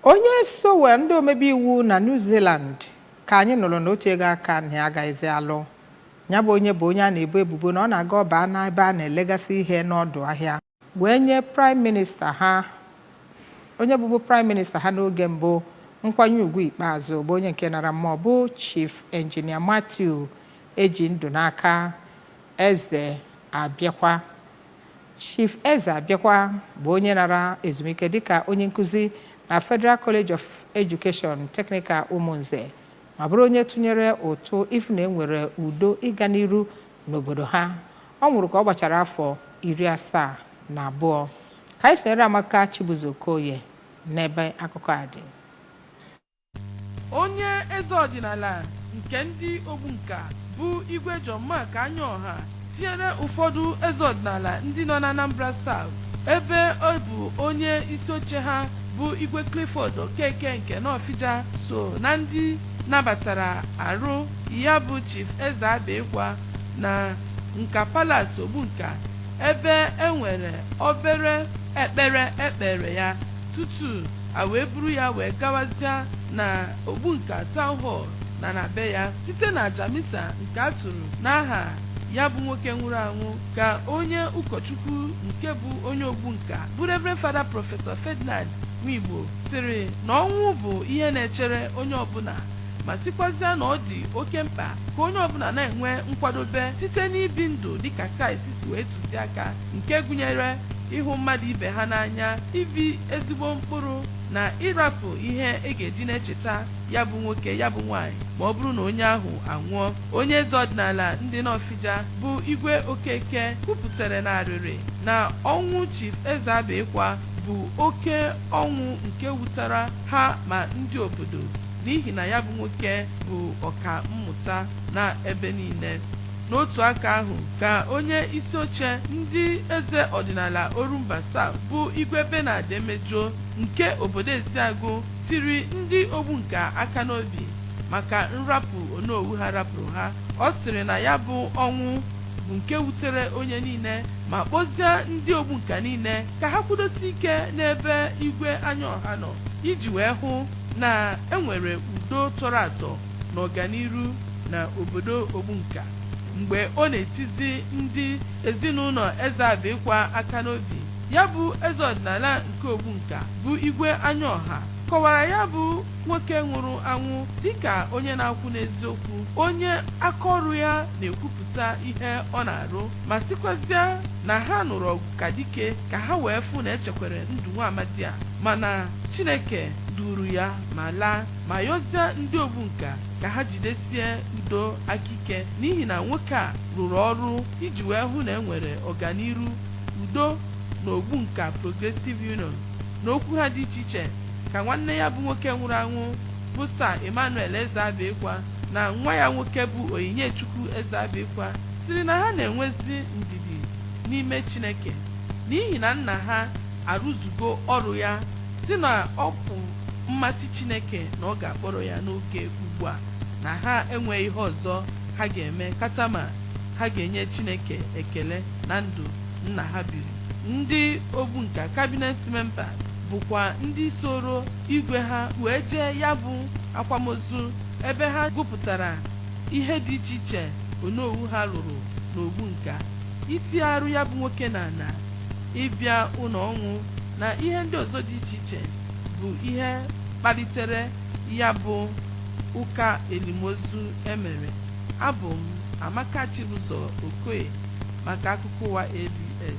Onye sowe ndị omebe iwu na New Zealand ka anyị nụrụ na o tuego aka na ya agaghịzi alụ. Ya bụ onye bụ onye a na-ebo ebubo na ọ na-aga ọ baa n'ebe a na-elegasị ihe n'ọdụ ahịa wee nye Praịm Minista ha onye bụbu Praịm Minista ha n'oge mbụ nkwanye ugwu ikpeazụ bụ onye nke nara mmụọ bụ Chief Engineer Matthew Ejindụnaka Ezeabikwa. Chief Ezeabikwa bụ onye nara ezumike dịka onye nkuzi na Federal College of Education Technical Umunze ma bụrụ onye tụnyere ụtụ ịfụ na enwere udo ịga n'iru n'obodo ha. Ọ nwụrụ ka ọ gbachara afọ iri asaa na abụọ. Ka anyị sonyere Amaka Chibuzo Okoye n'ebe akụkọ a dị. Onye eze ọdịnala nke ndị Ogbunka bụ Igwe John Mark Anyaọha tinyere ụfọdụ eze ọdịnala ndị nọ n'Anambra South ebe ọ bụ onye isioche ha bụ Igwe Clifford Okeke nke Nọfịja so na ndị nabatara arụ ya bụ Chief Ezeabikwa na Nka Palace Ogbunka ebe e nwere obere ekpere e kpeere ya tutu a wee buru ya wee gawazịa na Ogbunka Town Hall na na be ya site na aja misa nke a tụrụ n'aha ya bụ nwoke nwụrụ anwụ ka onye ụkọchukwu nke bụ onye Ogbunka bụ Reverend Fada Prọfesọ Ferdinand Nwaigbo sịrị na ọnwụ bụ ihe na-echere onye ọbụla ma sịkwazịa na ọ dị oke mkpa ka onye ọbụla na-enwe nkwadobe site n'ibi ndụ dịka Kraịst si wee tụzia aka nke gụnyere ịhụ mmadụ ibe ha n'anya, ibi ezigbo mkpụrụ, na ịrapụ ihe e ga-eji na-echeta ya bụ nwoke, ya bụ nwaanyị ma ọ bụrụ na onye ahụ anwụọ. Onye eze ọdịnala ndị Nọfịja bụ Igwe Okeke kwupụtara n'arịrị na ọnwụ Chief Ezeabikwa bụ oke ọnwụ nke wutara ha ma ndị obodo n'ihi na ya bụ nwoke bụ ọka mmụta na ebe niile. N'otu aka ahụ ka onye isi oche ndị eze ọdịnala Orumba South bụ Igwe Bernard Emejuo nke obodo Eziagụ tiri ndị Ogbunka aka n'obi maka nrapụ Onowu ha rapụrụ ha. Ọ sịrị na ya bụ ọnwụ bụ nke wutere onye niile ma kpọzịa ndị Ogbunka niile ka ha kwụdosie ike n'ebe Igwe Anyaọha nọ iji wee hụ na e nwere udo tọrọ atọ. na ọganiru na obodo Ogbunka mgbe ọ na-etizi ndị ezinụlọ Ezeabikwa aka n'obi. Ya bụ eze ọdịnala nke Ogbunka bụ Igwe Anyaọha kọwara ya bụ nwoke nwụrụ anwụ dịka onye na-akwụ n'eziokwu, onye aka ọrụ ya na-ekwupụta ihe ọ na-arụ ma sịkwazịa na ha nụrụ ọgụ ka dike ka ha wee fụ na echekwere ndụ nwa amadi a mana Chineke duuru ya ma laa. ma yọzie ndị Ogbunka ka ha jidesie udo aka ike n'ihi na nwoke a rụrụ ọrụ iji wee hụ na e nwere ọganiru udo na Ogbunka Progressive Union n'okwu ha dị iche iche ka nwanne ya bụ nwoke nwụrụ anwụ bụ Sir Emmanuel Ezeabikwa na nwa ya nwoke bụ Onyinyechukwu Ezeabikwa sịrị na ha na-enwezi ndidi n'ime Chineke n'ihi na nna ha arụzugo ọrụ ya sị na ọ bụ mmasị Chineke na ọ ga-akpọrọ ya n'oge ugbu a na ha enweghị ihe ọzọ ha ga-eme katama ha ga-enye Chineke ekele na ndụ nna ha biri. Ndị Ogbunka Cabinet Member bụkwa ndị soro igwe ha wee jee ya bụ akwamozu ebe ha gụpụtara ihe dị iche iche Onowu ha lụrụ n'Ogbunka. Itinye arụ ya bụ nwoke n'ala, ịbịa ụlọ ọnwụ na ihe ndị ọzọ dị iche iche. bụ ihe kpalitere ya bụ ụka elimozu e mere. Abụ m Amaka Chibụzọ Okoye maka akụkọ ụwa ABS.